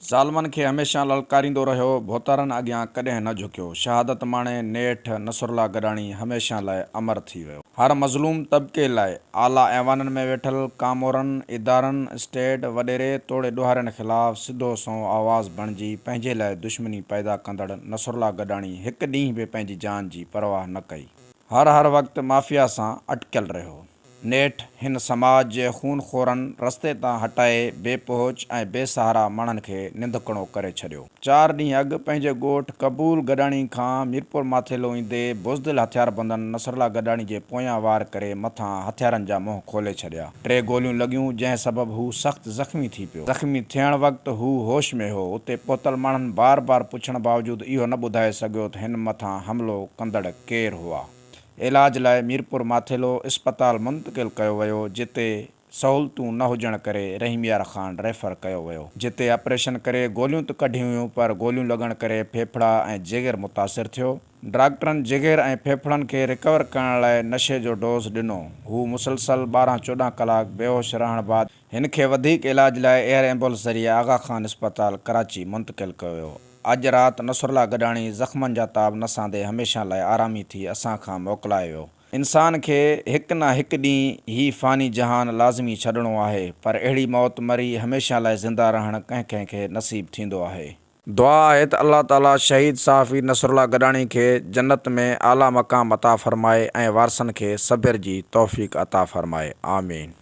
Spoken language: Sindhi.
ظالمن کي هميشه للڪاريندو رهيو، ڀوتارن اڳيان ڪڏهن نه جهڪيو، شهادت ماڻي نيٺ نصرالله گڏاڻي هميشه لاء امر ٿي ويو. هر مظلوم طبقي لاء اعليٰ ايوانن ۾ ويٺل ڪامورن، ادارن، اسٽيڊ، وڏيري توڙي ڏوهارين خلاف سڌو سنئون آواز بڻجي پنهنجي لاء دشمني پيدا ڪندڙ نصرالله گڏاڻي هڪ ڏينهن به پنهنجي جان جي پرواهه نه ڪئي. هر هر وقت مافيا سان اٽڪيل رهيو. نيٺ هن سماج جي خون خورن رستي تان هٽائي بي پهچ ۽ بي سهارا ماڻهن کي ننڌڪڻو ڪري ڇڏيو. چار ڏينهن اڳ پنهنجي ڳوٺ قبول گڏاڻي کان ميرپور ماٿيلو ايندي بزدل هٿياربندن نصرالله گڏاڻي جي پويان وار ڪري مٿان هٿيارن جا منهن کولي ڇڏيا. ٽي گوليون لڳيون جنهن سبب هو سخت زخمي ٿي پيو. زخمي ٿيڻ وقت هو هوش ۾ هو. اتي پهتل ماڻهن بار بار پڇڻ باوجود اهو نه ٻڌائي سگهيو ته هن مٿان حملو ڪندڙ ڪير هئا. علاج لاء ميرپور ماٿيلو اسپتال منتقل ڪيو ويو جتي سهولتون نه هجڻ ڪري رحيم يار خان ريفر ڪيو ويو جتي آپريشن ڪري گوليون ته ڪڍيون ويون پر گوليون لڳڻ ڪري ڦيڦڙا ۽ جگر متاثر ٿيو ڊاڪٽرن جگر ۽ ڦيڦڙن کي رڪور ڪرڻ لاء نشي جو ڊوز ڏنو هو مسلسل ٻارهن چوڏهن ڪلاڪ بيهوش رهڻ بعد هن کي وڌيڪ علاج لاء ايئر ايمبولنس ذريعي آغا خان اسپتال ڪراچي منتقل ڪيو ويو. اڄ رات نصرالله گڏاڻي زخمن جا تاب نه سهندي هميشه لاء آرامي ٿي اسان کان موڪلايو ويو. انسان کي هڪ نه هڪ ڏينهن هي فاني جهان لازمي ڇڏڻو آهي پر اهڙي موت مري هميشه لاء زنده رهڻ ڪنهن ڪنهن کي نصيب ٿيندو آهي. دعا آهي ته الله تعالي شهيد صحافي نصرالله گڏاڻي کي جنت ۾ اعليٰ مقام عطا فرمائي ۽ وارثن کي صبر جي توفيق عطا فرمائي. آمين.